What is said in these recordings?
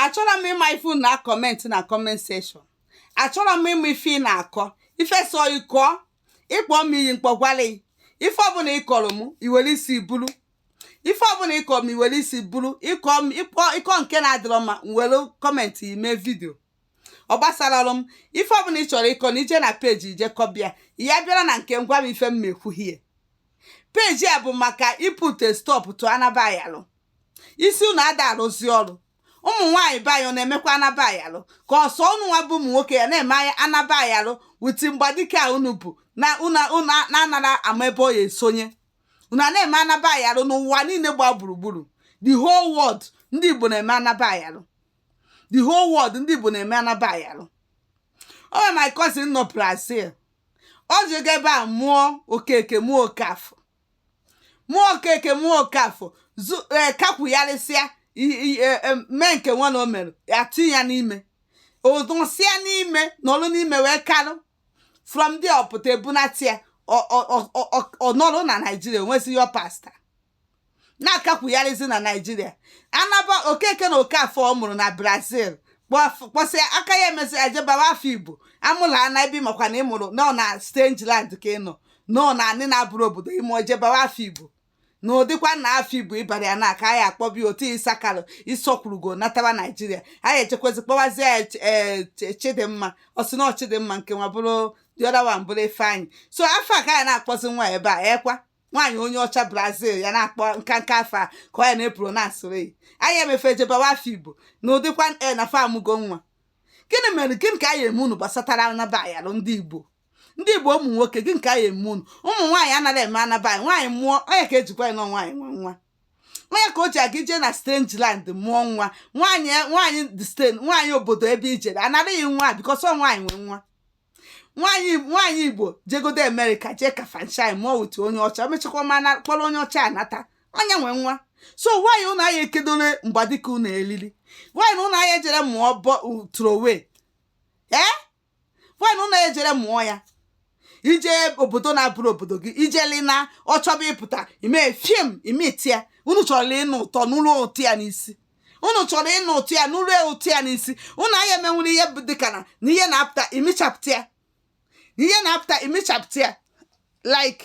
achọrọ m ịma ife unu na kọment na kọment sekshọn achọrọ m ịma ife ị na-akọ ife so ịkọ ị kpọ m iyi m kpọgwalụ ị ife ọbụla ị kọrọ m i were isi buru ife ọbụla ị kọ m i were isi buru ịkọ m ịkpọ ịkọ nke na-adịrọ mma m were kọmentị ime vidio ọ gbasara ọrụ m ife ọbụla ị chọrọ ịkọ na ije na peji ije kọbịa ya bịara na nke ngwa m ife m na-ekwughie peji a bụ maka iput stop to anaba ayalụ isi unu ada arụzi ọrụ ụmụ nwaanyị be anyị ọ na-emekwa anaba ayalụ ka ọ sọ unu nwa bụ ụmụ nwoke ya na-eme anaba ayalụ with mgbadike a unu bu na unu unu na-anara ama ebe ọ ya esonye unu a na-eme anaba ayalụ n'ụwa niile gba gburugburu the whole world ndị Igbo na-eme anaba ayalụ the whole world ndị Igbo na-eme anaba ayalụ o nwere my cousin nọ Brazil o jega ebe a mụọ okeke mụọ okafọ mụọ okeke mụọ okafọ zu ee kakwugharịsịa i- i- e- e- mee nke nwa na o mere atụ ya n'ime ọ dịsịa n'ime nọrụ n'ime wee karụ from there ọ pụta ebunata ya ọ- ọ- ọ- ọ- ọ- ọ nọrọ na naijiria wezi yọọ pasta na-akakwugharịzi na naijiria anaba okeke na okafọ ọ mụrụ na brazil kpọf- kpọsịa aka ya emezi e jee baa wa afa igbo amụla ana ebe ị makwa na ị mụrụ nọ na strange land ka ị nọ nọ na anị na-abụrọ obodo ime i jee baa wa afa igbo na ọ dịkwa na afa igbo ị bara ya na aka anyị akpọbi otu ịsakalụ ịsọkwurugo natara naijiria anyị echekwezi kpọwazie ya Ch- eh, Ch- chidimma ọ sị na ọ chidimma nke nwa bụrụ the other one bụrụ ifeanyị so afa a ka anyị na-akpọzi nwa ya ebe a ọ kwa nwaanyị onye ọcha brazil ya na-akpọ nkanka afa a ka ọ ya na-epronansịrị ya anyị emefe jee baa wa afa igbo na ọ dịkwa e na fa amụgo nwa gịnị mere gịnị ka anyị eme unu gbasatara anaba ayalụ ndị igbo ndị igbo ụmụ nwoke gịnị ka anyị eme unu ụmụ nwaanyị anaghị eme anaba ayalụ nwaanyị mụọ onye ka ejikwa anyị nọ nwaanyị nwa nwa onye ka o ji aga ije na strange land mụọ nwa nwaanyị nwaanyị this thing nwaanyị obodo ebe i jere anaraghị nwa because ọ nwaanyị nwe nwa nwaanyị nwaanyị igbo jegodu amerịka jee kafanchan mụọ with onye ọcha mechakwa ma na kpọrọ onye ọcha anata onye nwe nwa so why ụnụ anyị ekedore mgbadike ụnụ elili why na ụnụ anyị ejere mụọ born throway why na unu ejere mụọ ya ije obodo na-abụrọ obodo gị i jeli na ọ chọba ịpụta i mee fim ị mịta ya unu chọrọ ịnụ ụtọ nụluo ụtọ ya n'isi unu chọrọ ịnụ ụtọ ya nụluo ụtọ ya n'isi unu anyị emenwere ihe bụ dịka na na ihe na-apụta ị mịchapụta ya na ihe na-apụta ị mịchapụta ya like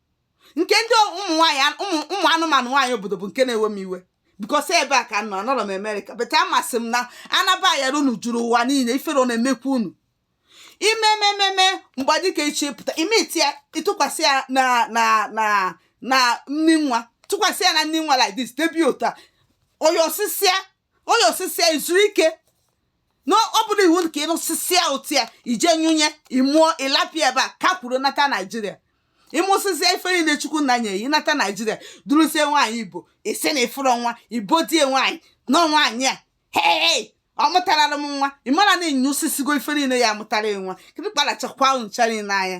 nke ndị ụmụ nwaanyị ụmụ anụmanụ nwaanyị obodo bụ nke na-ewe m iwe bikos ebe a ka m nọ anọrọ m amerịka but amasị m na anaba ayalụ unu juru ụwa niile ifere ọ na-emekwa unu i mee mee mee mgbe ọ dịka ọ chọ ịpụta ị mịta ya ị tụkwasị ya na na na na nni nwa tụkwasị ya na nni nwa like this debi ụta onye osisi ya ọ nyụsịsịa i zuru ike na ọ bụrụ iwu ka ị nyụsịsịa ụtụ ya i je nyụnye ị mụọ ị lapịa ebe a ka kwuru nata naijiria ị mụsịsịa ife niile chukwu nna nye yi nata naijiria duruzie nwaanyị igbo ị sị na ị fụrọ nwa ibo die nwaanyị na nwaanyị a hei ọ mụtarala m nwa ị mara na ị nyụsịsịgo ife niile ya amụtara nwa kịrịkpara chakwa ahụ ncha niile anya